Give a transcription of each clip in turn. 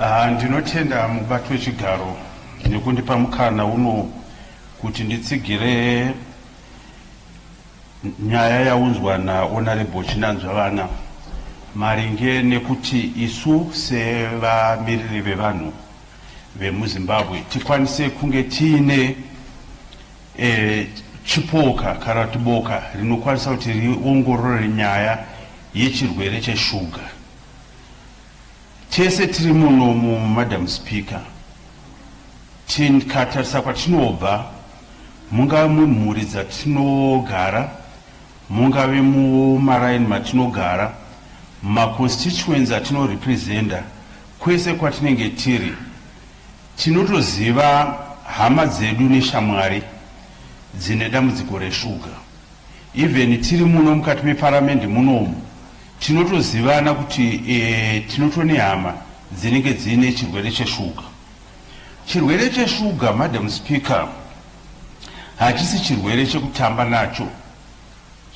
Ah, ndinotenda mubato wechigaro nekundipa mukana uno kuti nditsigire nyaya yaunzwa naonarebo chinanzva vana maringe nekuti isu sevamiriri vevanhu vemuzimbabwe tikwanise kunge tiine e, chipoka kana kuti boka rinokwanisa kuti riongorore nyaya yechirwere cheshuga Tese tiri munomu Madam Speaker tikatarisa kwatinobva mungave mumhuri dzatinogara mungave mumaraini matinogara maconstituency atinorepresenta kwese kwatinenge tiri tinotoziva hama dzedu neshamwari dzine dambudziko reshuga even tiri muno mukati meparamende munomu Tinotozivana kuti e, tinotone hama dzinenge dziine chirwere cheshuga. Chirwere cheshuga, Madam Speaker, hachisi chirwere chekutamba nacho,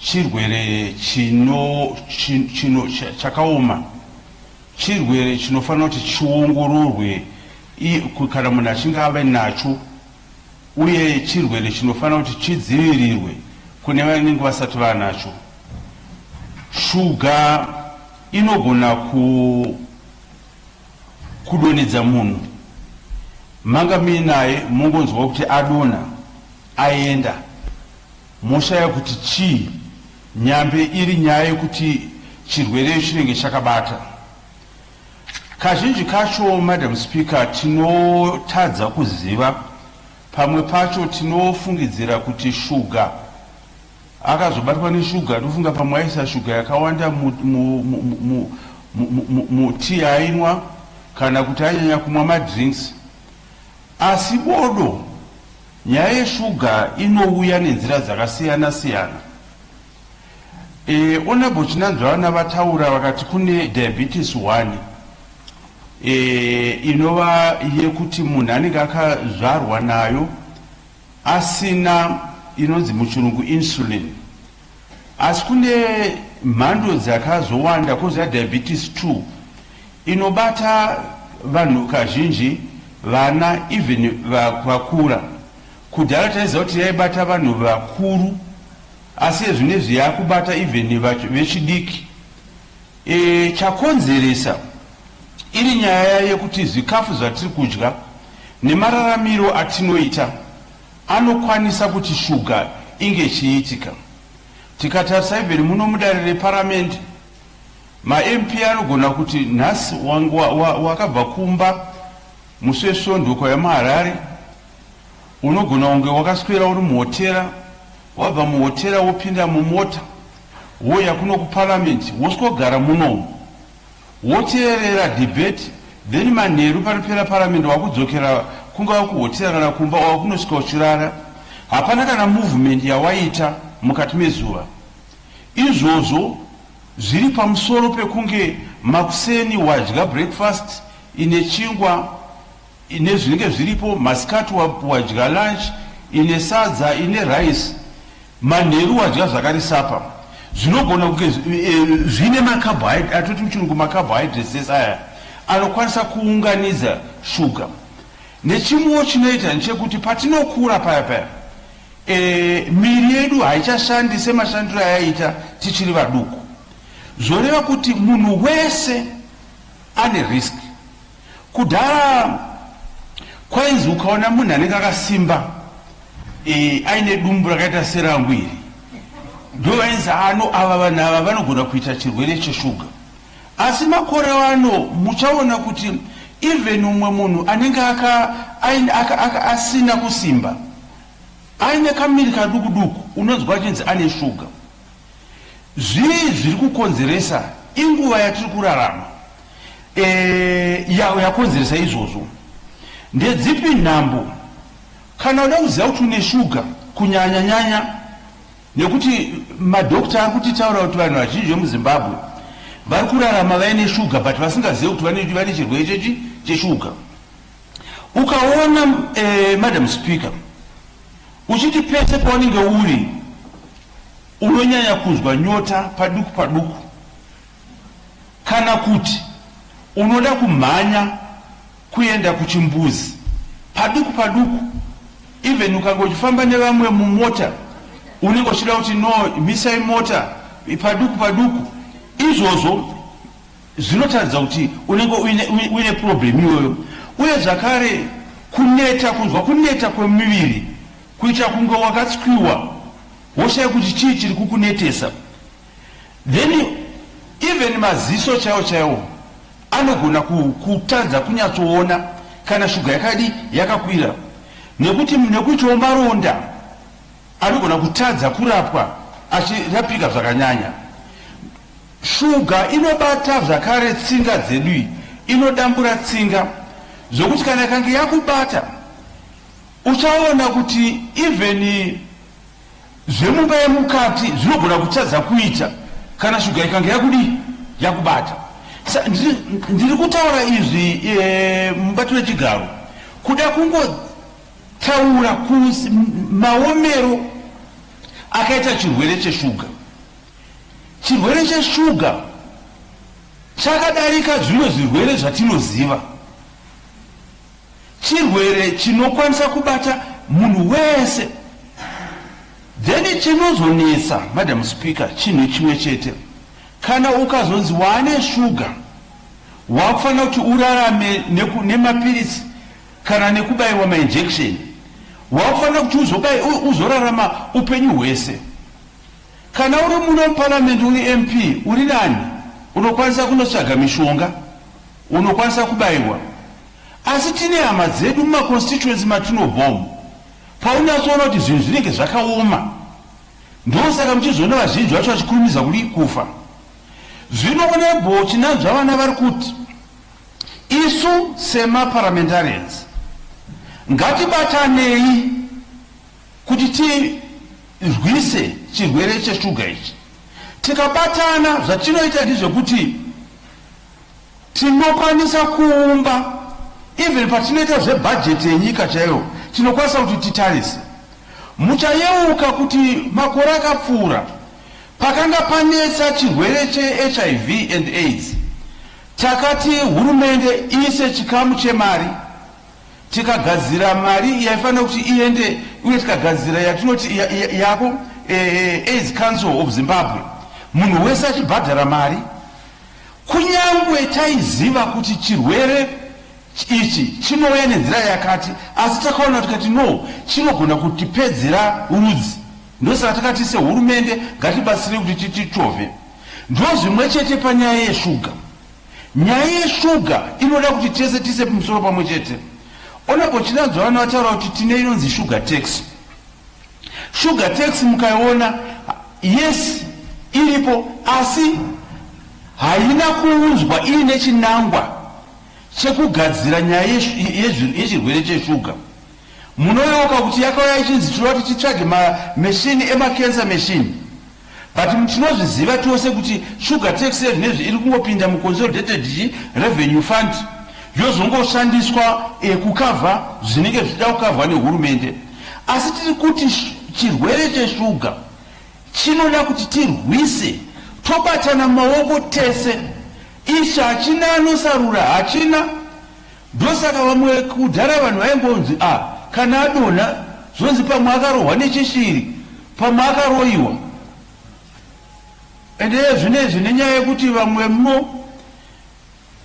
chirwere chino, chino, chino chakaoma, chirwere chinofanira kuti chiongororwe kana munhu achinge ave nacho uye chirwere chinofanira kuti chidzivirirwe kune vanenge vasati vanacho. Shuga inogona ku, kudonedza munhu manga muinaye mongonzwa kuti adona aenda moshaya kuti chii, nyambe iri nyaya yekuti chirwere chinenge chakabata. Kazhinji kacho, Madam Speaker, tinotadza kuziva, pamwe pacho tinofungidzira kuti shuga akazobatwa neshuga ndofunga pamwe aisa shuga yakawanda mutii ainwa kana kuti anyanya kumwa madrinks asi bodo nyaya yeshuga inouya nenzira dzakasiyana siyana E, Honorable Chinanzvana vataura vakati kune diabetes 1 e, inova yekuti munhu anenge akazvarwa nayo asina inonzi muchirungu insulin asi kune mhando dzakazowanda koziva diabetes 2 inobata vanhu kazhinji vana even vakura kudhara taiziva kuti yaibata vanhu vakuru Asi ezvinezvi yakubata even vechidiki. E, chakonzeresa iri nyaya yekuti zvikafu zvatiri kudya nemararamiro atinoita anokwanisa kuti shuga inge ichiitika. Tikatarisa even muno mudare reparamende mamp anogona kuti nhasi wakabva wa, wa, kumba musi wesvondo ukauya muharare unogona kunge wakaswera uri muhotera Wabva muhotera wopinda mumota wouya kuno kuparliament woswogara munomu woteerera debate then manheru panopera parliament wakudzokera kungava kuhotera kana kumba or kunosvika uchirara hapana kana movement yawaita mukati mezuva izvozvo zviri pamusoro pekunge makuseni wadya breakfast ine chingwa ine zvinenge zviripo masikati wadya lunch ine sadza ine rice manheru wadya zvakare sapa zvinogona kunge eh, zvine macarbohydrate atoti muchirungu macarbohydrates ese aya anokwanisa kuunganidza shuga nechimwewo chinoita nechekuti patinokura paya paya e, miri yedu haichashandi semashandiro ayaita tichiri vaduku zvoreva kuti munhu wese ane risk Kudhara kwainzi ukaona munhu anenge akasimba e, aine dumbu rakaita serangu iri ndo vainzi ano ava vanhu ava vanogona kuita chirwere cheshuga asi makore ano muchaona kuti even umwe munhu anenge asina kusimba aine kamiri kaduku duku unonzwa achinzi ane shuga zvii zviri kukonzeresa inguva yatiri kurarama e, yawo yakonzeresa izvozvo ndedzipi nhambo kana uda kuziva kuti une shuga kunyanya nyanya nekuti madokta ari kutitaura kuti vanhu vazhinji vemuzimbabwe vari kurarama vaine shuga but vasingazive kuti vane chirwere chechi cheshuga ukaona eh, madam speaker uchiti pese paunenge uri unonyanya kunzwa nyota paduku paduku Kana kuti unoda kumhanya kuenda kuchimbuzi paduku paduku even ukanga uchifamba nevamwe mumota unenge uchida kuti no misai mota paduku paduku izvozvo zvinotaridza kuti unenge uine problem iyoyo uye zvakare kuneta kunzwa kuneta kwemuviri kuita kunge wakatswiwa woshaya kuti chii chiri kukunetesa Then even maziso chaiwo chaiwo anogona kutadza kunyatsoona kana shuga yakadi yakakwira, nekuti nekuitawo maronda anogona kutadza kurapwa achirapika zvakanyanya. Shuga inobata zvakare tsinga dzedu, iyi inodambura tsinga zvokuti kana ikange yakubata uchaona kuti even Zvemumba yemukati zvinogona kutadza kuita kana shuga ikange yakudii yakubata. Ndiri kutaura izvi e, mubati wechigaro kuda kungotaura kusi maomero akaita chirwere cheshuga. Chirwere cheshuga chakadarika zvimwe zvirwere zvatinoziva. chirwere chinokwanisa kubata munhu wese then chinozonetsa madam speaker chinhu chimwe chete kana ukazonzi waane shuga wakufanira kuti urarame nemapiritsi kana nekubaiwa mainjection wakufanira kuti uzobai uzorarama upenyu hwese kana uri muno muparamende uri mp uri nani unokwanisa kunotsvaga mishonga Unokwanisa kubaiwa asi tine hama dzedu mumaconstituency matinobva umu paunyatsoona kuti zvinhu zvinenge zvakaoma ndosaka muchizoona vazhinji vacho vachikurumidza kudii kufa zvino onebho chinanzva vana vari kuti isu semaparliamentarians ngatibatanei kuti tirwise chirwere cheshuga ichi tikabatana zvatinoita ndizvekuti Tinokwanisa kuumba even patinoita zvebhajeti yenyika chaiyo tinokwanisa kuti titarise. Muchayeuka kuti makore akapfuura pakanga panetsa chirwere cheHIV and aids takati hurumende iise chikamu chemari tikagadzira mari yaifanira kuti iende uye tikagadzira yatinoti yako eh, eh, aids council of zimbabwe munhu wese achibhadhara mari Kunyangwe taiziva kuti chirwere ichi chinouya nenzira yakati asi takaona tikati no chinogona kutipedzera rudzi ndosaka takati sehurumende ngatibatsire kuti tititove ndozvimwe chete panyaya yeshuga nyaya yeshuga inoda kuti tese tise musoro pamwe chete onebo chinanzwa vana vataura kuti tine inonzi shuga taxi Sugar tax mukaiona yes iripo asi haina kuunzwa iine chinangwa chekugadzira nyaya yechirwere cheshuga. Munoyeuka kuti yakauya ichinzi tinoda kuti titsvage mameshini emacancer meshini. But tinozviziva tose kuti sugar tax zvinezvi iri kungopinda muconsolidated chi revenue fund yozongoshandiswa e, kukavha zvinenge zvichida kukavhwa nehurumende. Asi tiri kuti chirwere cheshuga chinoda kuti tirwise tobatana maoko tese. Ichi hachina anosarura, hachina. Ndosaka vamwe kudhara vanhu vaimbonzi a kana adonha zvonzi pamwe akarohwa nechishiri pamwe akaroiwa and iye zvinezvi nenyaya yekuti vamwe mno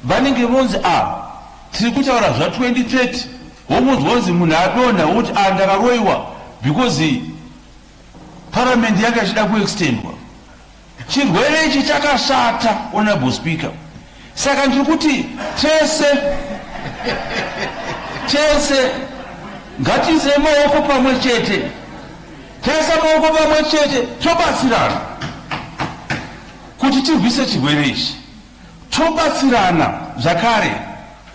vanenge vonzi a ah, tiri kutaura zva 2030 womunzwa kunzi munhu adonha woti a ah, ndakaroiwa because Parliament yanga ichida kuextendwa. Chirwere ichi chakashata, Honorable Speaker. Saka ndiri kuti tese tese ngatiise maoko pamwe chete, taisa maoko pamwe chete tobatsirana kuti tirwise chirwere ichi. Tobatsirana zvakare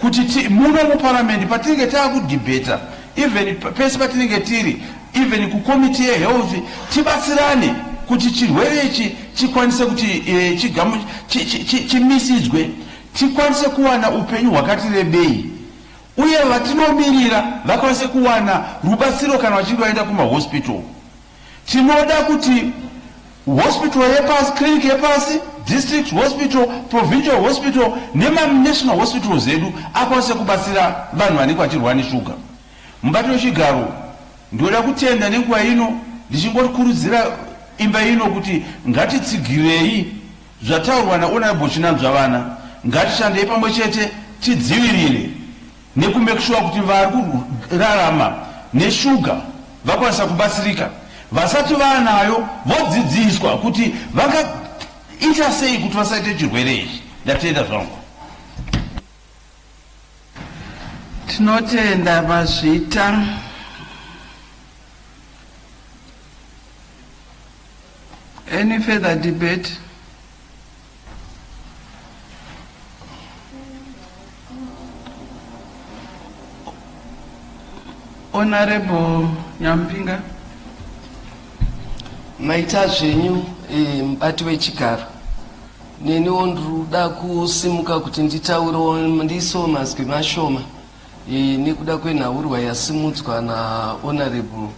kuti ti, muno muparliament patinenge taakudebata even pese patinenge tiri even kucommittee yehealth tibatsirane kuti chirwere ichi chikwanise kuti e, chigamu chimisidzwe chi, chi, chi, tikwanise kuwana upenyu hwakati rebei uye vatinomirira vakwanise kuwana rubatsiro kana vachinge vaenda kumahospital. Tinoda kuti hospital yepasi, clinic yepasi, district hospital, provincial hospital nemaNational hospitals edu akwanise kubatsira vanhu vanenge vachirwara neshuga. Mubatiro wechigaro, ndinoda kutenda nenguva ino ndichingorikurudzira imba ino kuti ngatitsigirei zvataurwa naHonourable Chinanzvavana, ngatishandei pamwe chete tidzivirire neku make sure kuti vari kurarama neshuga vakwanisa kubatsirika vasati vaanayo vodzidziswa kuti vangaita sei kuti vasaite chirwere ichi ndatenda zvangu tinotenda vazvita any further debate Honorable Nyampinga. Maita zvenyu eh, mubati wechigaro neniwo ndikuda kusimuka kuti nditaurewo ndiisewo mazwi mashoma eh, nekuda kwenhaurwa yasimudzwa nahonorable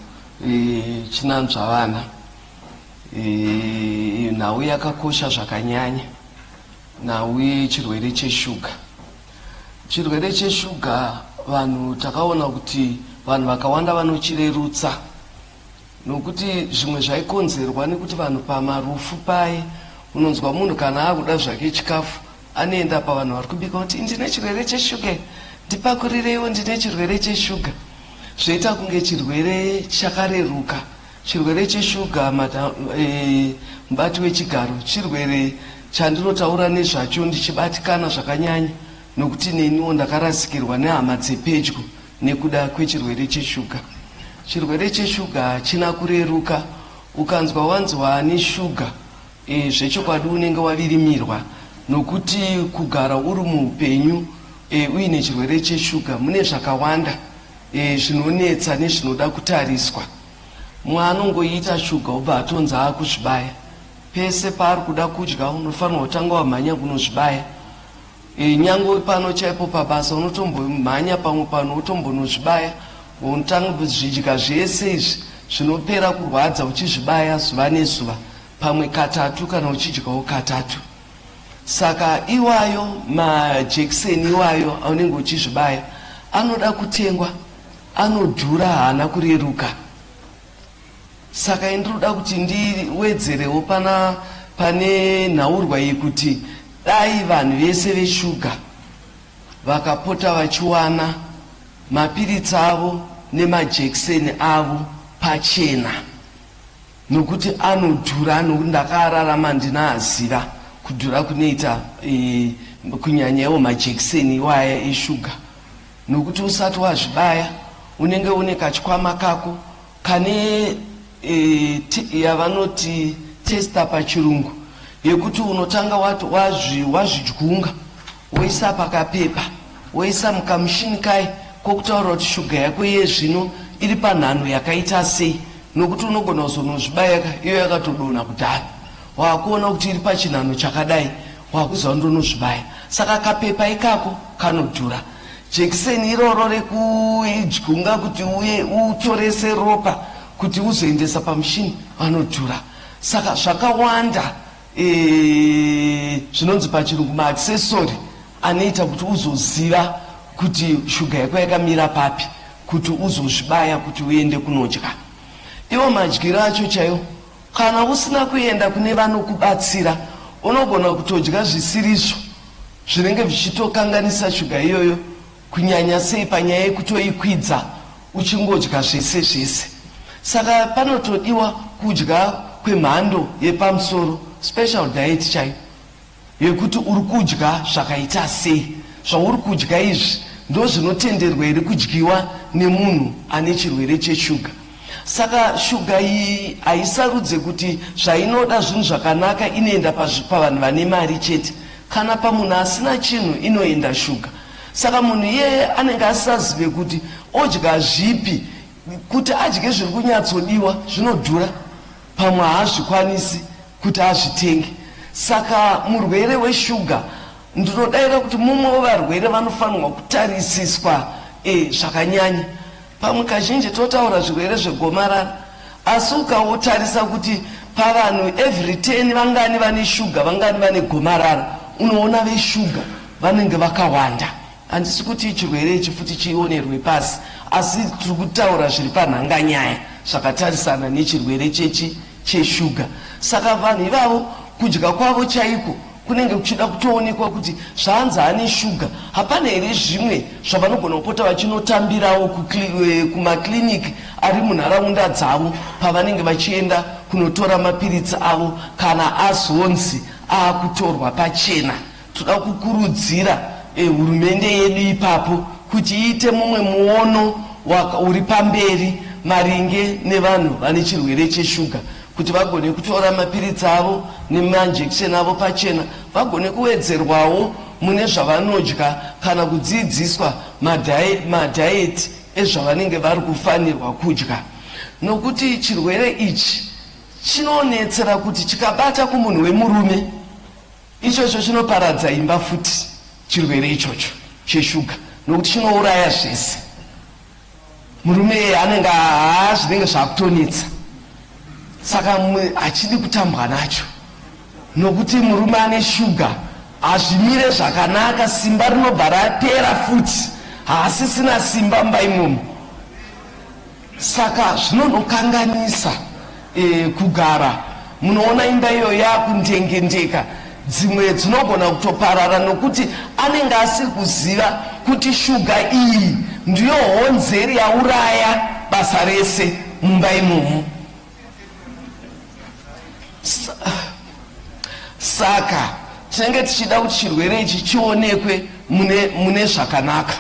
eh, chinanzvavana nhau yakakosha zvakanyanya nhau yechirwere cheshuga chirwere cheshuga vanhu takaona kuti vanhu vakawanda vanochirerutsa nokuti zvimwe zvaikonzerwa nekuti vanhu pamarufu paye unonzwa munhu kana akuda zvake chikafu anoenda pavanhu vari kubika kuti ndine chirwere cheshuga ndipakurireiwo ndine chirwere cheshuga zvoita kunge chirwere chakareruka Chirwere cheshuga mada, e, mubati wechigaro chirwere chandinotaura nezvacho ndichibatikana zvakanyanya nokuti neniwo ndakarasikirwa nehama dzepedyo nekuda kwechirwere cheshuga. Chirwere cheshuga hachina kureruka. Ukanzwa wanzi waane shuga, e, zvechokwadi unenge wavirimirwa nokuti kugara uri muupenyu e, uine chirwere cheshuga mune zvakawanda e, zvinonetsa nezvinoda kutariswa mwa anongoita shuga obva atonzi akuzvibaya pese paari kuda kudya unofanirwa kutanga wamhanya kunozvibaya e, nyange uri pano chaipo pabasa unotombomhanya pamwe pano utombonozvibaya unotanga zvidya zvese izvi zvinopera kurwadza uchizvibaya zuva nezuva pamwe katatu kana uchidyawo katatu Saka iwayo majekiseni iwayo aunenge uchizvibaya anoda kutengwa, anodhura, haana kureruka. Saka indinoda kuti ndiwedzerewo pana pane nhaurwa yekuti dai vanhu vese veshuga vakapota vachiwana mapiritsi avo nemajekiseni avo pachena. Nokuti anodhura nokuti ndakararama ndinaaziva kudhura kunoita eh, kunyanya iwo majekiseni iwaya eshuga nokuti usati wazvibaya unenge une kachikwama kako kane eh, yavanoti testa pachirungu yekuti unotanga wazvidyunga woisa pakapepa woisa mukamushini kai kokutaura kuti shuga yako iye zvino iri panhano yakaita sei nokuti unogona kuzonozvibaya iyo yakatodona kudhara waakuona kuti iri pachinhano chakadai waakuziva kuti ndonozvibaya saka kapepa ikako kanodhura jekiseni iroro rekuidyunga kuti uye utorese ropa kuti uzoendesa pamushini vanodhura saka zvakawanda Eh, zvinonzi pachirungu maaccessory anoita kuti uzoziva kuti shuga yako yakamira papi kuti uzozvibaya kuti uende kunodya iwo madyiro acho chaiwo kana usina kuenda kune vanokubatsira unogona kutodya zvisirizvo zvinenge zvichitokanganisa shuga iyoyo kunyanya sei panyaya yekutoikwidza uchingodya zvese zvese saka panotodiwa kudya kwemhando yepamusoro special diet chai yekuti uri kudya zvakaita sei zvauri kudya izvi ndozvinotenderwa here kudyiwa nemunhu ane chirwere cheshuga saka shuga iyi haisarudze kuti zvainoda zvinhu zvakanaka inoenda pavanhu vane mari chete kana pamunhu asina chinhu inoenda shuga Saka munhu iyeye anenge asisazive kuti odya zvipi, kuti adye zviri kunyatsodiwa zvinodhura, pamwe haazvikwanisi kuti azvitenge. Saka murwere weshuga ndinodaira kuti mumwe wevarwere vanofanirwa kutarisiswa zvakanyanya. Pamwe kazhinji totaura zvirwere zvegomarara asi ukautarisa kuti pavanhu every 10 vangani vane shuga vangani vane gomarara unoona veshuga vanenge vakawanda handisi kuti chirwere ichi futi chionerwe pasi asi tiri kutaura zviri panhanga nyaya zvakatarisana nechirwere chechi cheshuga saka vanhu ivavo kudya kwavo chaiko kunenge kuchida kutoonekwa kuti zvanzi ane shuga hapana here zvimwe zvavanogona kupota vachinotambirawo eh, kumaclinic ari munharaunda dzavo pavanenge vachienda kunotora mapiritsi avo kana azonzi aakutorwa pachena toda kukurudzira eh, hurumende e, yedu ipapo kuti iite mumwe muono uri pamberi maringe nevanhu vane chirwere cheshuga kuti vagone kutora mapiritsi avo nemanjekisheni avo pachena vagone kuwedzerwawo mune zvavanodya kana kudzidziswa madhayeti ezvavanenge vari kufanirwa kudya nokuti chirwere ichi chinonetsera kuti chikabata kumunhu wemurume ichocho chinoparadza imba futi chirwere ichocho cheshuga nokuti chinouraya zvese Murume iye anenge haa zvinenge zvakutonetsa saka mumwe achidi kutambwa nacho nokuti murume ane shuga hazvimire zvakanaka simba rinobva rapera futi haasisina simba mumba imomo saka zvinonokanganisa e, kugara munoona imba iyo yakundengendeka dzimwe dzinogona kutoparara nokuti anenge asiri kuziva kuti shuga iyi ndiyo honzeri yauraya basa rese mumba imomo saka tinenge tichida kuti chirwere ichi chionekwe mune, mune zvakanaka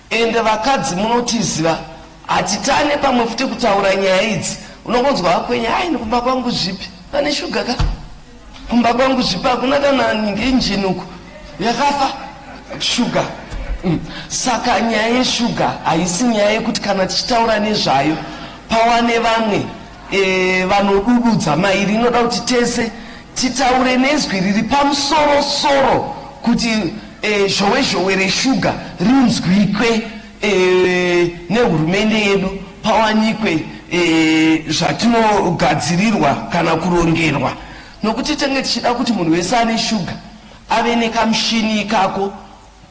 Ende vakadzi munotiziva hatitane pamwe futi kutaura nyaya idzi unongonzwa hakwenye hai nikumba kwangu zvipi pane shuga ka kumba kwangu zvipi hakuna kana ngenjini uku yakafa shuga mm. saka nyaya yeshuga haisi nyaya yekuti kana tichitaura nezvayo pawane vamwe e, vanodududza mairi inoda kuti tese titaure nezwi riri pamusoro soro kuti e, zhowe zhowe reshuga rinzwikwe e, nehurumende yedu pawanikwe e, zvatinogadzirirwa kana kurongerwa nokuti tenge tichida kuti munhu wese ane shuga ave nekamushini ikako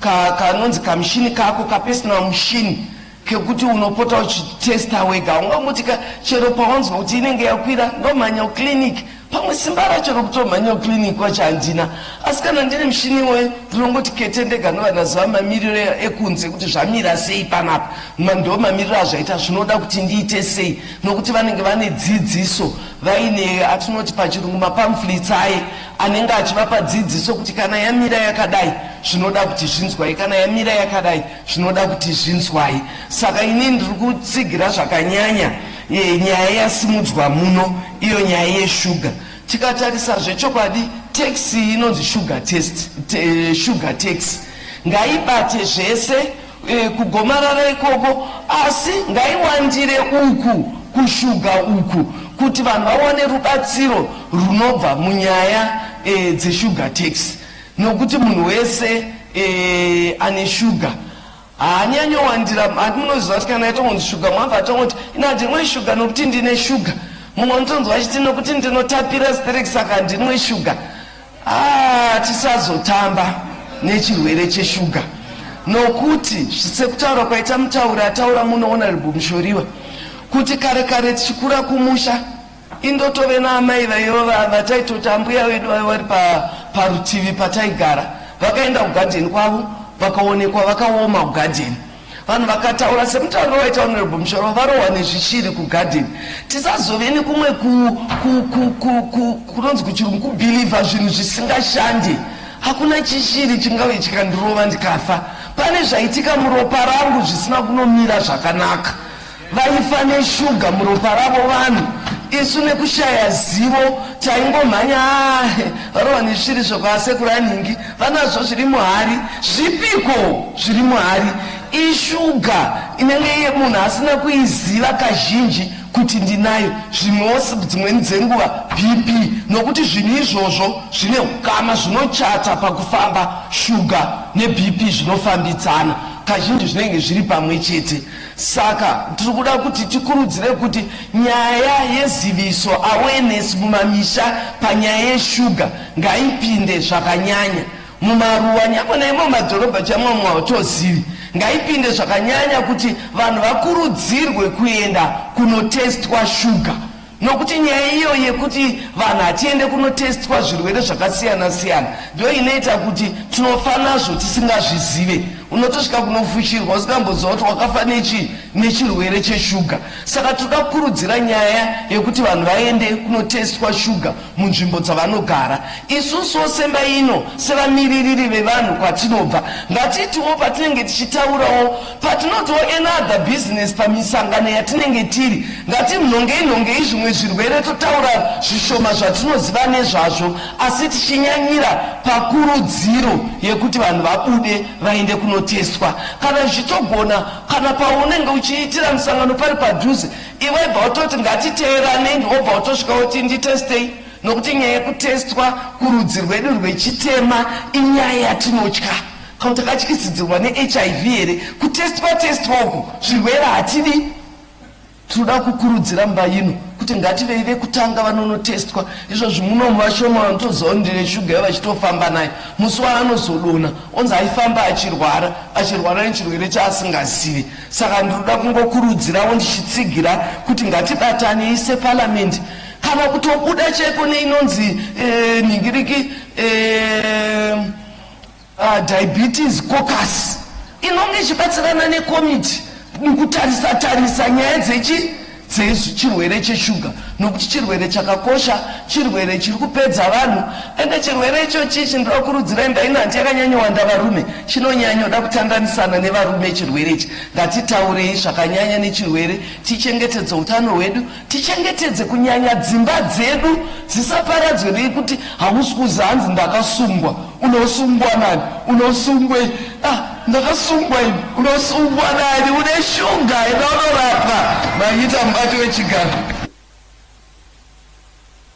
ka kanonzi kamushini kako kapersonal mushini kekuti unopota uchitesta wega ungamuti ka chero pawanzwa kuti inenge yakwira ndomhanya uclinic pamwe simba racho rokutomhanya uclinic wacho handina asi kana ndine mushini iwoyo ndinongoti kete ndega ndovanaziva mamiriro ekunze kuti zvamira sei panapa ndo mamiriro azvaita zvinoda kuti ndiite sei nokuti vanenge vane dzidziso vaine atinoti pachirungu mapamflits aye anenge achivapa dzidziso kuti kana yamira yakadai zvinoda kuti zvinzwai kana yamira yakadai zvinoda kuti zvinzwai saka ini ndiri kutsigira zvakanyanya e, nyaya yasimudzwa muno iyo nyaya yeshuga tikatarisa zvechokwadi taxi inonzi sugar test te, sugar taxi ngaibate zvese e, kugomarara ikoko asi ngaiwandire uku kushuga uku kuti vanhu vawane rubatsiro runobva munyaya e, dzeshuga tax nokuti munhu wese e, ane shuga haanyanyowandira hati munoziva kuti kana yatongonzi shuga mwabva atongoti ina ndinwe shuga nokuti ndine shuga mumwe anotonzwa achiti nokuti ndinotapira sterek saka ndinwe shuga Haa tisazotamba nechirwere cheshuga nokuti sekutaura kwaita mutauri ataura muno honorable Mushoriwa kuti kare kare tichikura kumusha indotove naamai vaiva vataitoti ambuya vedu vaiva vari parutivi pataigara vakaenda kugadheni kwavo vakaonekwa vakaoma kugadheni Vanhu vakataura semutauriro waita Honorable Mushoro varohwa nezvichiri kugarden. Tisazove nekumwe kunonzi kuchirungu kubhilivha zvinhu zvisingashandi. Hakuna chishiri chingave chikandirova ndikafa. Pane zvaitika muropa rangu zvisina kunomira zvakanaka. Vaifa neshuga muropa ravo vanhu isu nekushaya zivo taingomhanya ahe varohwa nesviri zvekwasekuru anhingi vanazvo zviri muhari zvipiko zviri muhari ishuga inenge iye munhu asina kuiziva kazhinji kuti ndinayo zvimwewo dzimweni dzenguva bp nokuti zvinhu izvozvo zvine ukama zvinochata pakufamba shuga nebp zvinofambidzana kazhinji zvinenge zviri pamwe chete Saka tiri kuda kuti tikurudzire kuti nyaya yeziviso awareness mumamisha panyaya yeshuga ngaipinde zvakanyanya mumaruwa nyangwe naimo madhorobha chamwamwa hautozivi ngaipinde zvakanyanya kuti vanhu vakurudzirwe kuenda kunotestwa shuga nokuti nyaya iyo yekuti vanhu hatiende kunotestwa zvirwere zvakasiyana siyana ndo inoita kuti tinofa nazvo tisingazvizive unotosvika kunofushirwa usingamboziva kuti wakafa nechi nechirwere cheshuga saka tinoda kukurudzira nyaya yekuti vanhu vaende kunotestwa shuga munzvimbo dzavanogara isusuwo semba ino sevamiririri vevanhu kwatinobva ngatitiwo patinenge tichitaurawo Patinotiwo another business pamisangano yatinenge tiri, ngatinhongei nhongei zvimwe zvirwere totaura zvishoma zvatinoziva nezvazvo asi tichinyanyira pakurudziro yekuti vanhu vabude vaende kunotestwa kana zvichitogona. Kana paunenge uchiitira musangano pari padhuze, iwe bva utoti ngatiteeranei wobva utosvika woti nditestei nokuti nyaya yekutestwa kurudzi rwedu rwechitema inyaya yatinotya. Ko takatyisidzirwa neHIV here kutestwa testwa uku zvirwere hatidi tinoda kukurudzira mba ino kuti ngativei vekutanga vanonotestwa izvozvi munomu vashoma vanotoziva kuti ndine shuga yo vachitofamba nayo musi waanozodona onzi aifamba achirwara achirwara nechirwere chaasingazivi saka ndinoda kungokurudzirawo ndichitsigira kuti ngatibatanei separamende kana kutobuda chaiko neinonzi e, nhingiriki e, Uh, diabetes cocus inonge ichibatsirana nekomiti mukutarisa tarisa nyaya dzechi dzechirwere cheshuga nokuti chirwere chakakosha chirwere chiri kupedza vanhu ende chirwere ichochi chindokurudzirai ndaina hanti yakanyanyowanda varume chinonyanyoda kutandanisana nevarume chirwere ichi ngatitaurei zvakanyanya nechirwere tichengetedze utano hwedu Tichengetedze kunyanya dzimba dzedu dzisaparadzwe nekuti hamusi kuziva hanzi ndakasungwa unosungwa nani unosungwei ah, ndakasungwa ini unosungwa nani une shuga enda unorapwa maita mubati wechigaro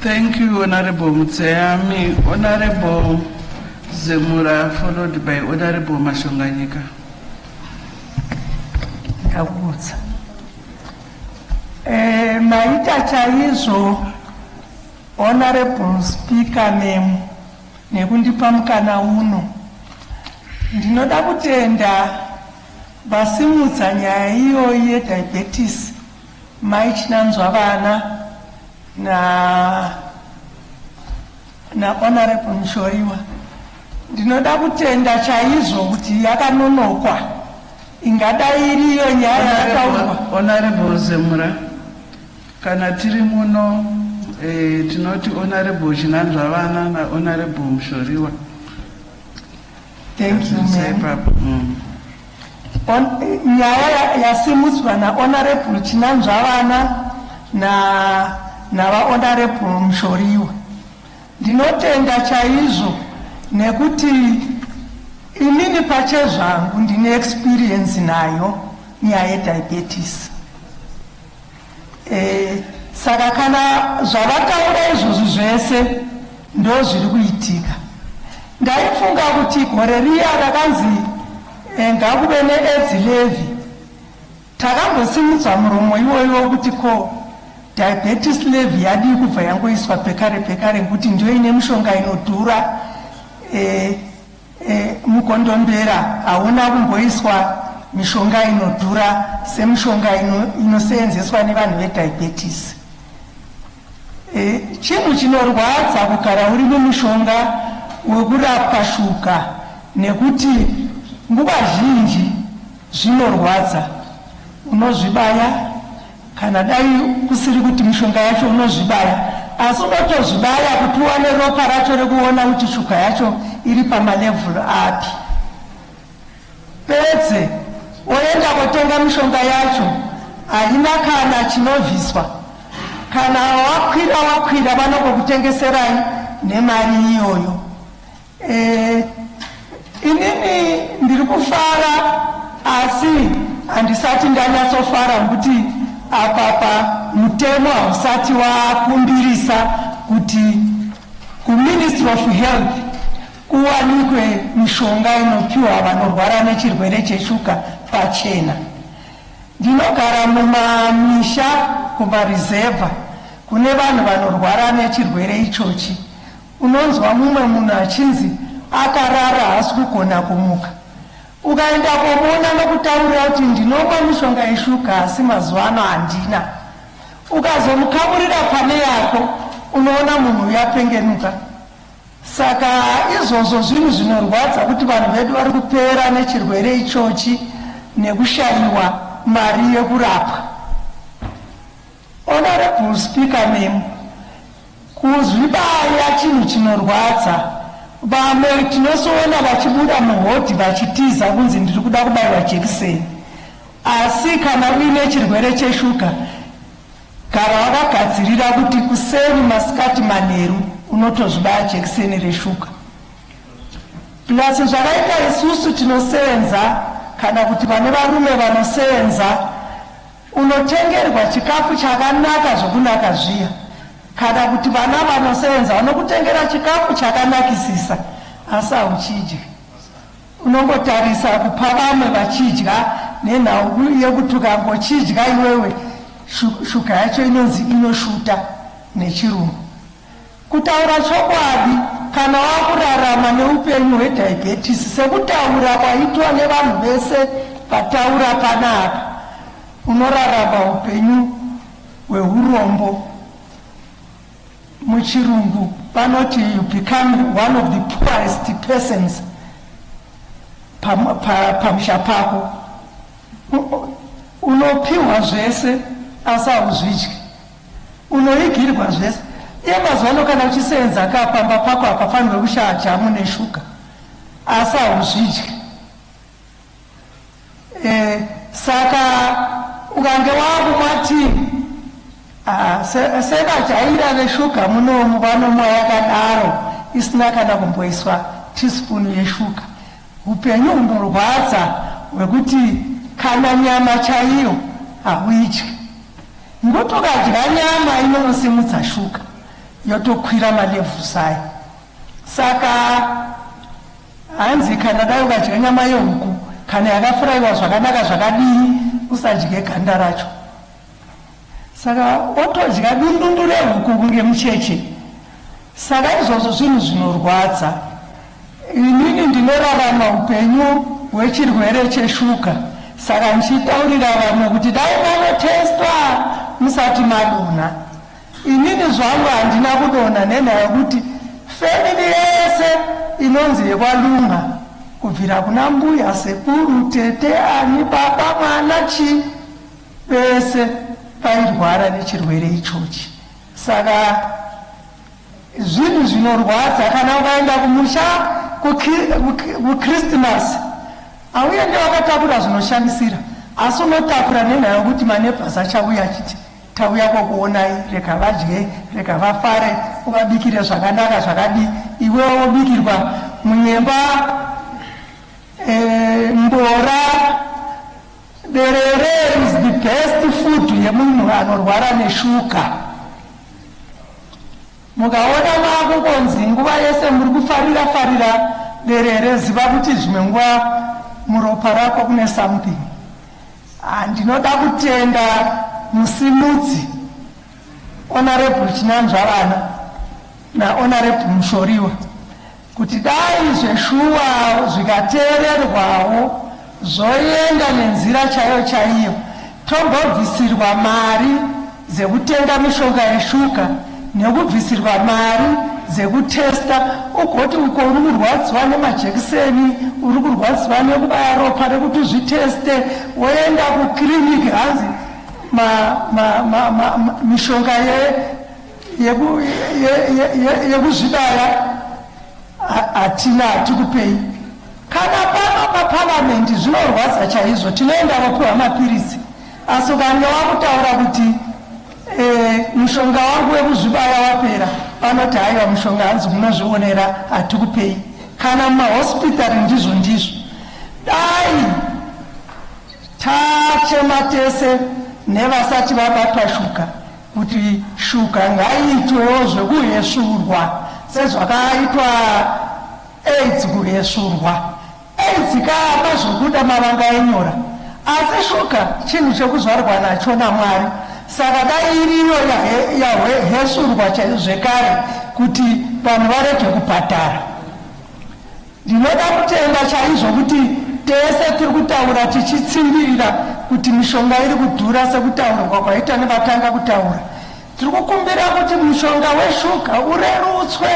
Thank you Honorable Mutseyami. Honorable Zemura followed by Honorable Mashonganyika. Ndakudza. Eh, maita chaizvo Honorable Speaker memo nekundipa mukana uno. Ndinoda kutenda vasimudza nyaya iyoyi yediabetes Mai Chinanzwa vana na na Honorable Mushoriwa ndinoda kutenda chaizvo kuti yakanonokwa ingadai iriyo nyaya yataurwa. Honorable Zemura, kana tiri muno eh, tinoti Honorable Chinanzva vana na Honorable Mushoriwa Thank you, ma'am. On- nyaya ya- yasimudzwa nahonorable chinanzvavana na- navahonorable mushoriwa ndinotenda chaizvo nekuti inini pachezvangu ndine experience nayo nyaya yediabetes Eh, saka kana zvavataura izvozvi zvese ndo zviri kuitika ndaifunga kuti gore riya rakanzi eh, ngakuve needzi levi takambosimudzwa muromo iwoyo wokuti ko diabetes levi yadii kubva yangoiswa pekare pekare ngekuti ndio ine mushonga inodhura eh, E, mukondombera hauna kumboiswa mishonga inodhura semishonga inoseenzeswa nevanhu vediabetes e, chinhu chinorwadza kugara uri mumushonga wekurapwa shuga nekuti nguva zhinji zvinorwadza unozvibaya Kana dai kusiri kuti mishonga yacho unozvibaya asi unotozvibaya kuti uwane ropa racho rekuona kuti shuga yacho iri pamalevel api pedze oenda kotenga mishonga yacho haina kana chinobviswa kana wakwira wakwira vanokokutengeserai nemari iyoyo Eh, inini ndiri kufara asi handisati ndanyatsofara nokuti apapa mutemo hausati wakumbirisa kuti kuministry of health kuwanikwe mishonga inopiwa vanorwara nechirwere cheshuka pachena ndinogara mumamisha kumarizevha kune vanhu vanorwara nechirwere ichochi Unonzwa mumwe munhu achinzi akarara haasi kugona kumuka. Ukaenda komuona anokutaurira kuti ndinomwa mishonga yeshuga asi mazuva ano handina. Ukazomukamurira pane yako unoona munhu uyu apengenuka. Saka izvozvo zvinhu zvinorwadza kuti vanhu vedu vari kupera nechirwere ichochi nekushaiwa mari yekurapwa. Honourable speaker memo kuzvibaya chinhu chinorwadza vamwe tinosoona vachibuda muhodhi vachitiza kunzi ndiri kuda kubaiwa jekiseni asi kana uine chirwere cheshuga gara wakagadzirira kuti kuseni masikati manheru unotozvibaya jekiseni reshuga plus zvakaita isusu tinosenza kana kuti vane varume vanosenza Unotengerwa chikafu chakanaka zvokunaka zviya kana kuti vana vanosevenza vanokutengera chikafu chakanakisisa asi hauchidyi. Unongotarisa kupa vamwe vachidya nenhau yekuti ukangochidya iwewe shuga yacho inonzi inoshuta nechirungu. Kutaura chokwadi, kana wava kurarama neupenyu hwedhayibhetisi sekutaura kwaitwa nevanhu vese vataura panapa, unorarama upenyu hwehurombo. MuChirungu vanoti you become one of the poorest persons pamusha pako. Unopiwa zvese asi hauzvidyi. Unoigirwa zvese. Iye mazuva ano kana uchisenza ka pamba pako hapafanirwe kushaya jamu neshuga. Asi hauzvidye. Eh, saka ukange wakumwa tii Ah, sevajaira veshuga munomu vanomwa yakadaro isina kana kumboiswa tispunu yeshuga upenyu hunorwadza hwekuti kana nyama chaiyo hauityi Ndotokadya nyama inonosimudza shuga yotokwira malevels ayo. Saka hanzi kana dai ukadya nyama yehuku kana yakafuraiwa zvakanaka zvakadii usadye ganda racho. Saka otodya dundundu rehuku kunge mucheche. Saka izvozvo zvinhu zvinorwadza. Inini ndinorarama upenyu hwechirwere cheshuga saka ndichitaurira vamwe kuti dai manotestwa musati madona. Inini zvangu handina kudona nenhaya yokuti family yese inonzi yekwaLunga kubvira kuna mbuya, sekuru, tete, ani, baba, mwana, chii vese vairwara nechirwere ichochi. Saka zvinhu zvinorwadza kana ukaenda kumusha kuchrismas auende wakatakura zvinoshandisira asi unotakura nenhaya yokuti manebhas achauya achiti tauya kwokuonai rega vadye rega vafare uvabikire zvakanaka zvakadii iwewo wobikirwa munyemba e, mbora Derere is the best food yemunhu anorwara neshuka. Mukaona mako konzi nguva yese muri kufarira farira derere, ziva kuti zvimwe nguva muropa rako kune something. Ah, ndinoda kutenda musimudzi Honorable Chinanzvavana naHonorable Mushoriwa. kuti dai zveshuwa zvikateererwawo zvoenda nenzira chaiyo chaiyo tombobvisirwa mari dzekutenga mishonga yeshuga nekubvisirwa mari dzekutesta ugoti uko uri kurwadziwa nemajekiseni uri kurwadziwa nekubaya ropa rekuti uzviteste woenda kukiriniki hanzi mishonga ye yekuzvidaya hatina hatikupei kana pano paparamende zvinorwadza chaizvo tinoenda vopiwa mapiritsi asi ukange wakutaura kuti eh, mushonga wangu wekuzvibaya wapera vanoti haiwa mushonga hanzi munozvionera hatikupei kana mumahospitari ndizvo ndizvo dai tachema tese nevasati vabatwa shuka kuti shuga ngaiitwewo zvekuhesvurwa sezvakaitwa aids kuhesvurwa aids kaa mazvobuda mavanga enyora asi shuga chinhu chekuzvarwa nacho namwari saka dai iriyo yahesvurwa zvekare kuti vanhu varege kubhadhara Ndinoda kutenda chaizvo kuti tese tiri kutaura tichitsimbirira kuti mishonga iri kudhura sekutaurirwa kwaita nevatanga kutaura. Tiri kukumbira kuti mushonga weshuga urerutswe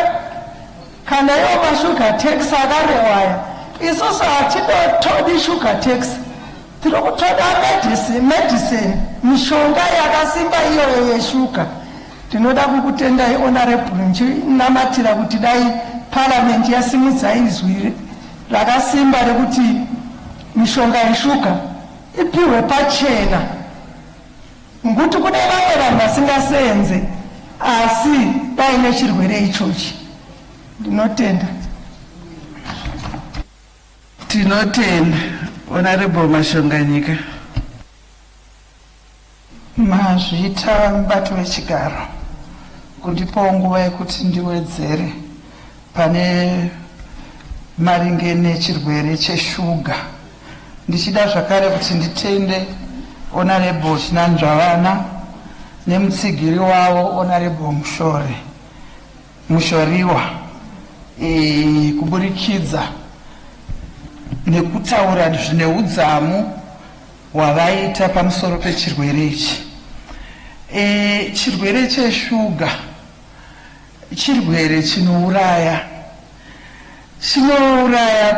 kana iwo mashuga tax akarewaya. Isusu hatidotodi shuga tax, tiri kutoda medicine, medicine mishonga yakasimba iyoyo yeshuga. Tinoda kukutendai Honourable ndichinamatira kuti dai Parliament yasimudza izwi rakasimba rekuti mishonga yeshuga ipihwe pachena ngokuti kune vamwe vanhu vasingaseenze asi vaine chirwere ichochi. Ndinotenda. Tinotenda Honourable Mashonganyika. Mazvita mubati wechigaro kundipawo nguva yekuti ndiwedzere pane maringe nechirwere cheshuga ndichida zvakare kuti nditende Honorable Chinanzvavana nemutsigiri wavo Honorable Mushore Mushoriwa e, kuburikidza nekutaura zvine udzamu hwavaita pamusoro pechirwere ichi. E, chirwere cheshuga chirwere chinouraya chinouraya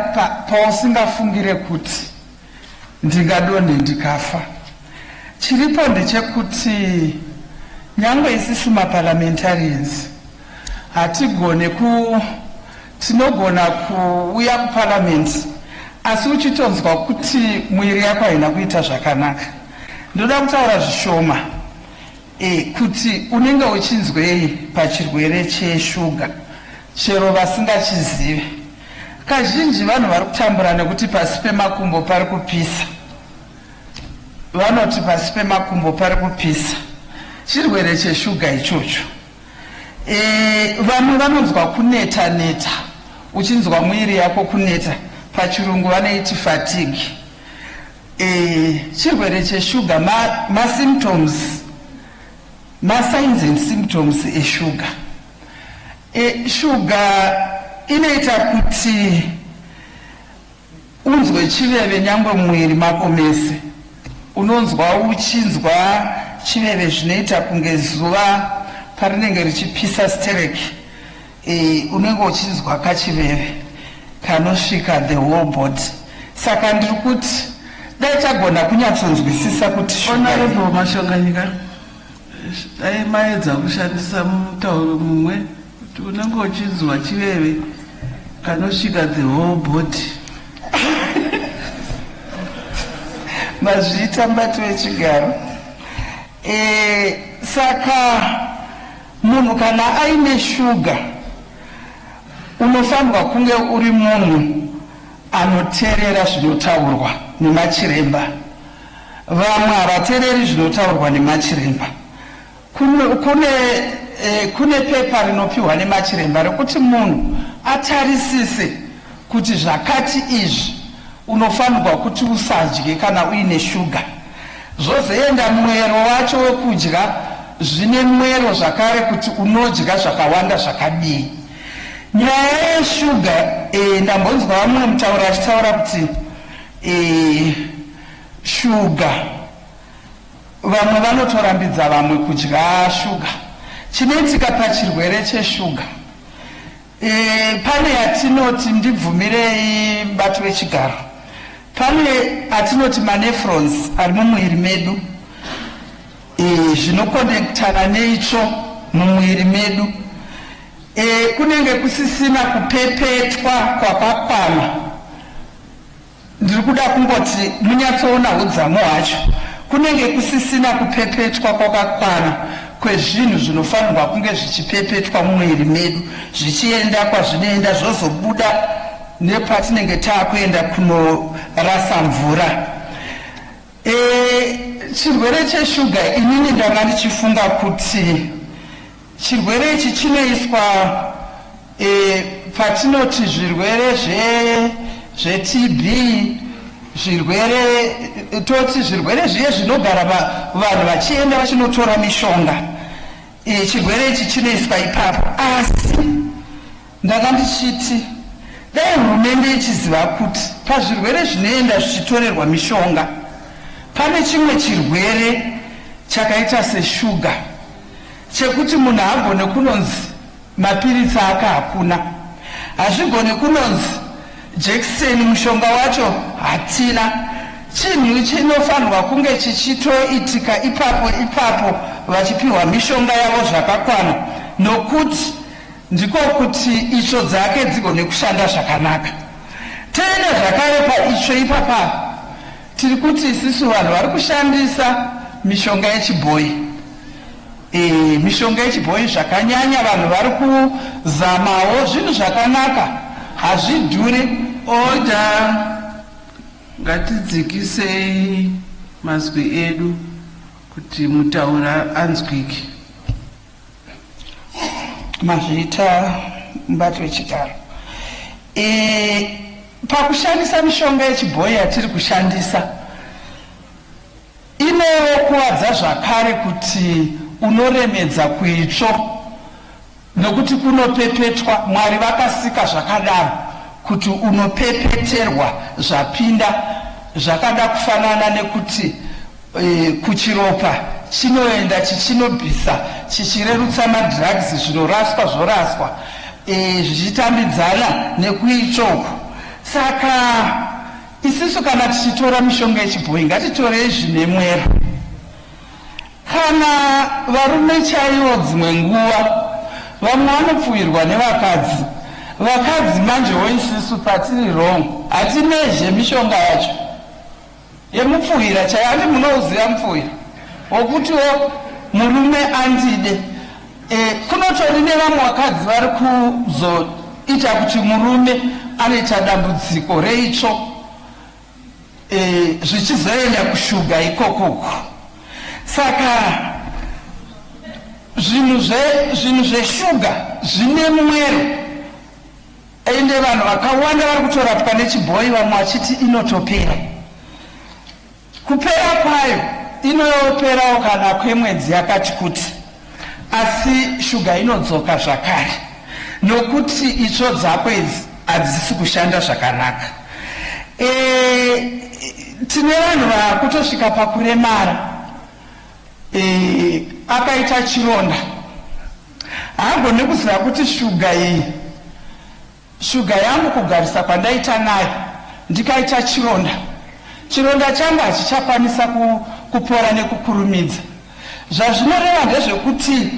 pausingafungire pa kuti ndingadonhe ndikafa. Chiripo ndechekuti nyangwe isisu maparliamentarians hatigone ku Tinogona kuuya kuparliament asi uchitonzwa kuti mwiri yako haina kuita zvakanaka. Ndoda kutaura zvishoma e, kuti unenge uchinzwei pachirwere cheshuga chero vasingachizive. Kazhinji vanhu vari kutambura nekuti pasi pemakumbo pari kupisa. Vanoti pasi pemakumbo pari kupisa. Chirwere cheshuga ichocho. Eh, vamwe vanonzwa kuneta neta uchinzwa muiri yako kuneta pachirungu vanoiti fatigue eh, chirwere cheshuga masymptoms ma masigns and symptoms eshuga eh, shuga inoita kuti Unzwe chiveve nyangwe mumwiri mako mese unonzwa uchinzwa chiveve zvinoita kunge zuva parinenge richipisa sterek eh, unenge uchinzwa kachiveve kanosvika the whole body saka ndiri kuti dai tagona kunyatsonzwisisa kuti Honorable Mashonganyika Dai maedza kushandisa mutauro mumwe kuti unenge uchinzwa chiveve kanosvika the whole body. Mazviita mbati wechigaro. Eh, saka munhu kana aine shuga unofanirwa kunge uri munhu anoteerera zvinotaurwa nemachiremba. Vamwe havatereri zvinotaurwa nemachiremba. Kune, kune, eh, kune pepa rinopiwa nemachiremba rekuti munhu atarisise kuti zvakati izvi unofanirwa kuti usadye kana uine shuga. Zvozoenda mwero wacho wekudya zvine mwero zvakare kuti unodya zvakawanda zvakadii. Nyaya yeshuga eh, ndambonzwa vamwe mutauri achitaura kuti eh, Shuga. Vamwe vanotorambidza vamwe kudya shuga. Chinoitika pachirwere cheshuga, e, pane yatinoti ndibvumirei bati vechigaro, pane atinoti manefrons ari mumuviri medu e, zvinokonektana neitsvo mumuviri medu e, kunenge kusisina kupepetwa kwakakwana Ndiri kuda kungoti munyatsoona hudzamu hwacho. Kunenge kusisina kupepetwa kwakakwana kwezvinhu zvinofanirwa kunge zvichipepetwa mumuviri medu zvichienda kwazvinoenda zvozobuda nepatinenge taakuenda kunorasa mvura. E, chirwere cheshuga inini ndanga ndichifunga kuti Chirwere ichi chinoiswa e, patinoti zvirwere zve zveTB zvirwere toti zvirwere zviye zvinogara vanhu vachienda vachinotora mishonga e, chirwere ichi chinoiswa ipapo asi ndanga ndichiti dai hurumende ichiziva kuti pazvirwere zvinoenda zvichitorerwa mishonga pane chimwe chirwere chakaita seshuga Chekuti munhu haagone kunonzi mapiritsi aka hakuna. Hazvigone kunonzi jekiseni mushonga wacho hatina. Chinhu chinofanirwa kunge chichitoitika ipapo ipapo vachipiwa mishonga yavo zvakakwana nokuti ndiko kuti itsvo dzake dzigone kushanda zvakanaka. Tiine zvakare paitsvo ipapa. Tiri kuti isisu vanhu vari kushandisa mishonga yechibhoyi e, mishonga yechibhoyi zvakanyanya vanhu vari kuzamawo zvinhu zvakanaka hazvidhuri oda ngatidzikisei mazwi edu kuti mutaura anzwike. mazviita mubati wechigaro e, pakushandisa mishonga yechibhoyi yatiri kushandisa inokuvadza zvakare kuti unoremedza kuitsvo nokuti kunopepetwa mwari vakasika zvakadaro kuti unopepeterwa zvapinda zvakada kufanana nekuti kuchiropa chinoenda chichinobvisa chichirerutsa madrugs zvinoraswa zvoraswa e, zvichitambidzana nekuitsvoku saka isisu kana tichitora mishonga yechibhoyi ngatitorei zvine mwero kana varume chaivo dzimwe nguva vamwe vanopfuwirwa nevakadzi vakadzi manjewo isisu patiri wrong hatinezve mishonga yacho Yemupfuhira chaiyo handi munouziva mupfuhira wokutiwo murume andide e, kunotori nevamwe vakadzi vari kuzoita kuti murume anoita dambudziko reitsvo e, zvichizoenda kushuga ikokuku saka zvinhu zve zvinhu zveshuga zvine mwero Ende vanhu vakawanda vari kutorapwa nechibhoyi vamwe vachiti inotopera. Kupera kwayo inoperawo kana kwemwedzi yakati kuti asi shuga inodzoka zvakare nokuti itsvo dzako idzi hadzisi kushanda zvakanaka. E, tine vanhu vakutosvika pakuremara e, akaita chironda Haagone kuziva kuti shuga iyi shuga yangu kugarisa kwandaita nayo ndikaita chironda chironda changu hachichakwanisa ku, kupora nekukurumidza zvazvinoreva ndezvekuti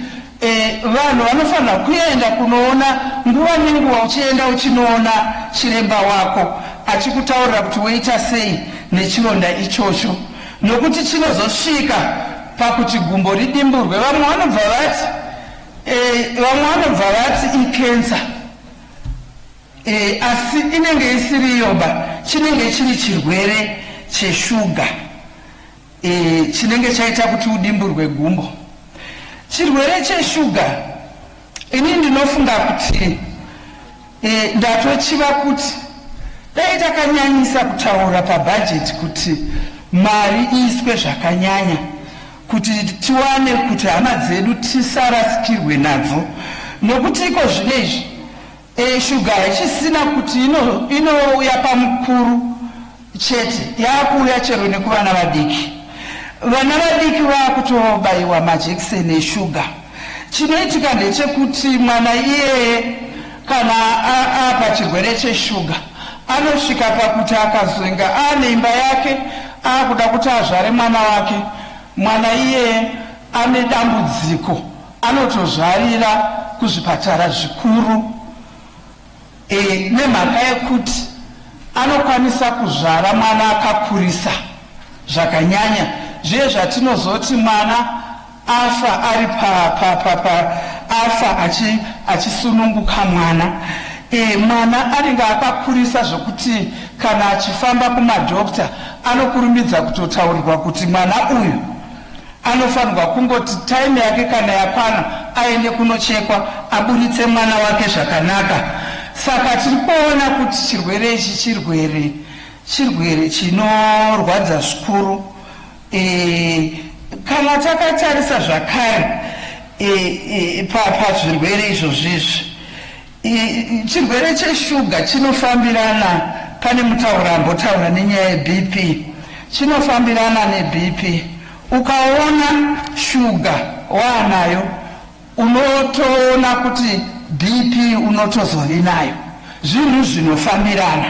e, vanhu vanofanira kuenda kunoona nguva nenguva uchienda uchinoona chiremba wako achikutaurira kuti woita sei nechironda ichocho nokuti chinozosvika pakuti gumbo ridimburwe vamwe vanobva vati eh, vamwe vanobva vati ikensa eh, asi inenge isiri yoba chinenge chiri chirwere cheshuga eh, chinenge chaita kuti udimburwe gumbo chirwere cheshuga Ini ndinofunga kuti e, ndatochiva kuti dai takanyanyisa kutaura pabhajeti kuti mari iiswe zvakanyanya kuti tiwane kuti hama dzedu tisarasikirwe nadzo nokuti iko zvino izvi Eeh sugar haichisina kuti ino inouya pamukuru chete yakuuya chero nekuvana vadiki. Vana vadiki vakutobaiwa majekiseni esugar. Chinoitika ndechekuti mwana iyeye kana apa chirwere chesugar anosvika pakuti akazoinga aane imba yake akuda kuti azvare mwana wake mwana iyeye ane dambudziko. Anotozvarira kuzvipatara zvikuru e, nemhaka yekuti anokwanisa kuzvara mwana akakurisa zvakanyanya zviye zvatinozoti mwana afa ari pa, pa, pa, pa afa achi, achisununguka mwana e, mwana anenge akakurisa zvokuti kana achifamba kumadokta anokurumbidza kutotaurirwa kuti mwana uyu Anofanirwa kungoti time yake kana yakwana aende kunochekwa aburitse mwana wake zvakanaka. Saka tiri kuona kuti chirwere ichi chirwere chirwere chinorwadza zvikuru. E, kana takatarisa zvakare e, e, pazvirwere izvozvizvi Chirwere cheshuga chinofambirana, pane mutauri ambotaura nenyaya yeBP, chinofambirana neBP. Ukaona shuga waanayo unotoona kuti BP unotozovinayo, zvinhu zvinofambirana.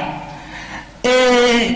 E,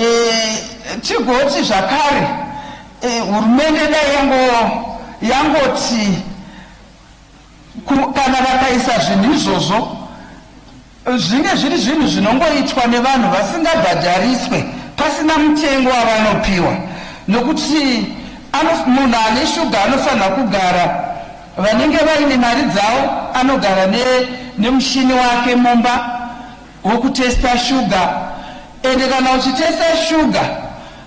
Eh, tigoti zvakare eh, hurumende dai yango yangoti kana vakaisa zvinhu izvozvo zvinge zviri zvinhu zvinongoitwa nevanhu vasingabhadhariswe pasina mutengo wavanopiwa nokuti munhu ane shuga anofanira kugara vanenge vaine mari dzavo anogara nemushini wake mumba wokutesta shuga ende kana uchitesta shuga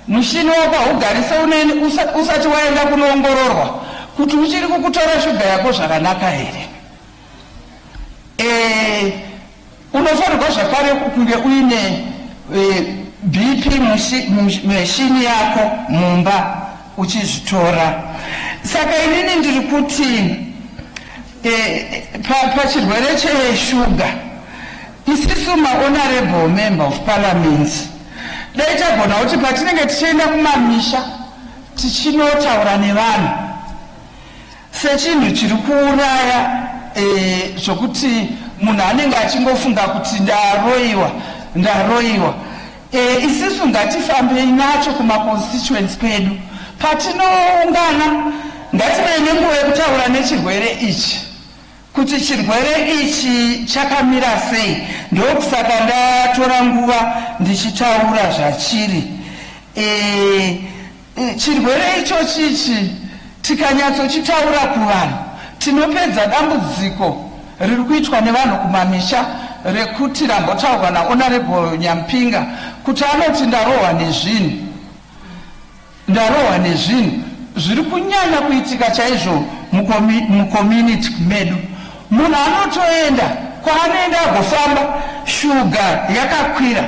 mushini wako haugarise uneni usati waenda kunoongororwa kuti uchiri kukutora shuga yako zvakanaka here e, unofanirwa zvakare kunge uine e, bp meshini yako mumba uchizvitora saka inini ndiri kuti Pachirwere pa cheshuga isisu mahonorable member of parliament dai tagona kuti patinenge tichienda kumamisha tichinotaura nevanhu sechinhu chiri kuuraya eh, zvokuti e, munhu anenge achingofunga kuti ndaroiwa ndaroiwa Eh, isisu ngatifambei nacho kumaconstituents kwedu patinoungana ngativei nenguva yekutaura nechirwere ichi kuti chirwere ichi chakamira sei ndokusaka ndatora nguva ndichitaura zvachiri eh, Chirwere ichochi ichi tikanyatsochitaura kuvanhu tinopedza dambudziko riri kuitwa nevanhu kumamisha rekuti rambotaurwa naHonourable Nyampinga kuti anoti ndarohwa nezvinhu ndarohwa nezvinhu zviri kunyanya kuitika chaizvo mucommunity medu. Munhu anotoenda kwaanoenda agofamba shuga yakakwira.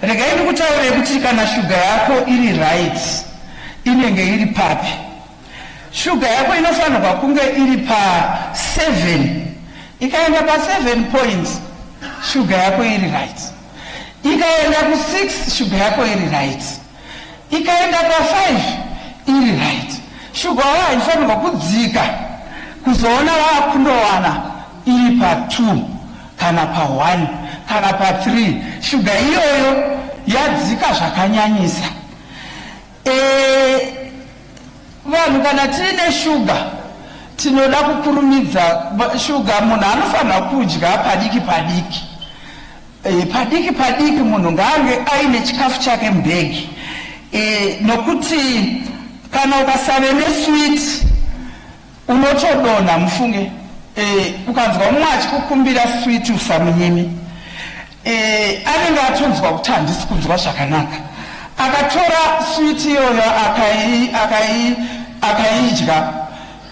Regai ndikutaurire kuti kana shuga yako iri right inenge iri papi. Shuga yako inofanirwa kunge iri pa 7 ikaenda pa 7 points shuga yako iri right ikaenda ku 6 shuga yako iri right. ikaenda pa 5 iri right shuga waya haifanirwa kudzika kuzoona vakundowana iri pa 2 kana pa 1 kana pa 3 shuga iyoyo yadzika zvakanyanyisa e, vanhu kana tiine shuga tinoda kukurumidza shuga munhu anofanira kudya padiki padiki E, padiki padiki munhu ngaange aine chikafu chake mubhegi e, nokuti kana ukasave neswiti unotodonha mufunge e, ukanzwa mumwe achikukumbira switi usamunyimi e, anenge atonzwa kuti handisi kunzwa zvakanaka akatora switi iyoyo akaidya aka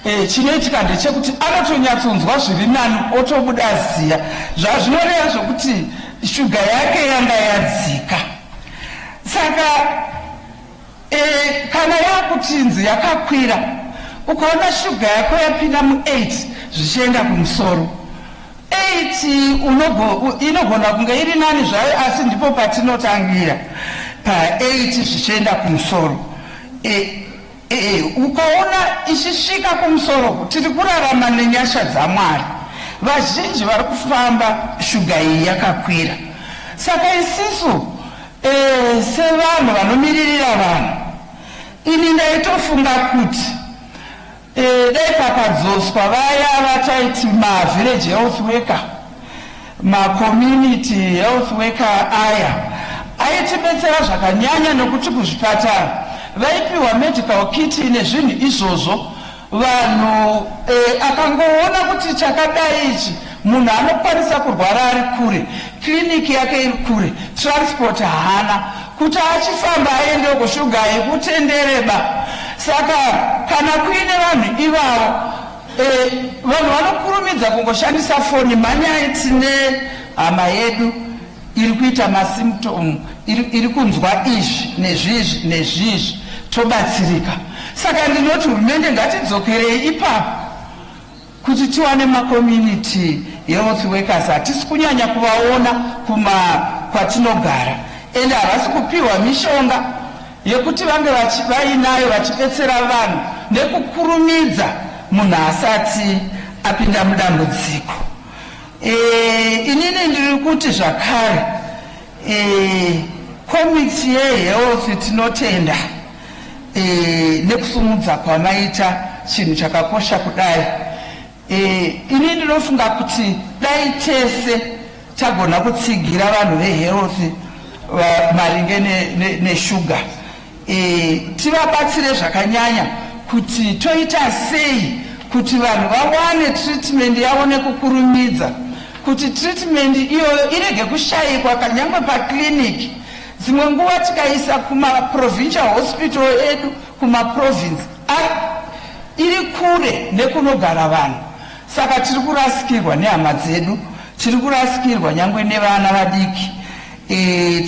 E, chinoitika ndechekuti anotonyatsonzwa zviri nani otobuda ziya zvazvinoreva zvekuti shuga yake yanga yadzika saka e, kana yakutinzi yakakwira ukaona shuga yako yapinda mu8 zvichienda kumusoro 8 inogona kunge iri nani zvayo asi ndipo patinotangira pa8 zvichienda kumusoro e, Ee, ukaona ichisvika kumusoro tiri kurarama nenyasha dzaMwari. Vazhinji vari kufamba shuga iyi yakakwira. Saka isisu ee, sevanhu vanomiririra vanhu, ini ndaitofunga kuti ee, dai pakadzoswa vaya vataiti mavillage health worker Macommunity health worker aya aitibetsera zvakanyanya nokuti kuzvipatara vaipiwa medical kit nezvinhu izvozvo vanhu e, akangoona kuti chakadai ichi munhu anokwanisa kurwara ari kure kliniki yake iri kure transport haana kuti achifamba aendeko shuga yekutendereba saka kana kuine vanhu ivavo Eh, vanhu vanokurumidza kungoshandisa foni manyai tine hama yedu iri kuita masymptom iri, iri kunzwa izvi nezvizvi nezvizvi tobatsirika saka ndinoti hurumende ngatidzokerei ipapo kuti tiwane macommunity health workers hatisi kunyanya kuvaona kuma kwatinogara ende havasi kupiwa mishonga yekuti vange vachi, vainayo vachibetsera vanhu nekukurumidza munhu asati apinda mudambudziko. E, inini ndiri kuti zvakare e, komiti yehealth tinotenda e, nekusumudza kwamaita chinhu chakakosha kudai Eh, ini ndinofunga kuti dai tese tagona kutsigira vanhu vehealth maringe neshuga ne, ne eh, tivabatsire zvakanyanya kuti toita sei kuti vanhu vawane treatment yavo nekukurumidza kuti treatment iyoyo irege kushayikwa kanyangwe paclinic dzimwe nguva tikaisa kumaprovincial hospital edu kumaprovince App iri kure nekunogara vanhu saka tiri kurasikirwa nehama dzedu, tiri kurasikirwa nyangwe nevana vadiki, e,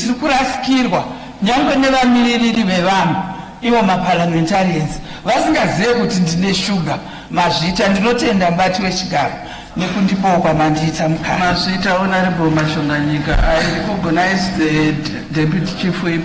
tiri kurasikirwa nyangwe nevamiririri vevanhu ivo maparliamentarians vasingazive kuti ndine shuga. Mazvita, ndinotenda mubati wechigaro nekundipawo kwamandiita mukana. Mazvita, Honorable Mashonganyika, I recognize the deputy chief whip.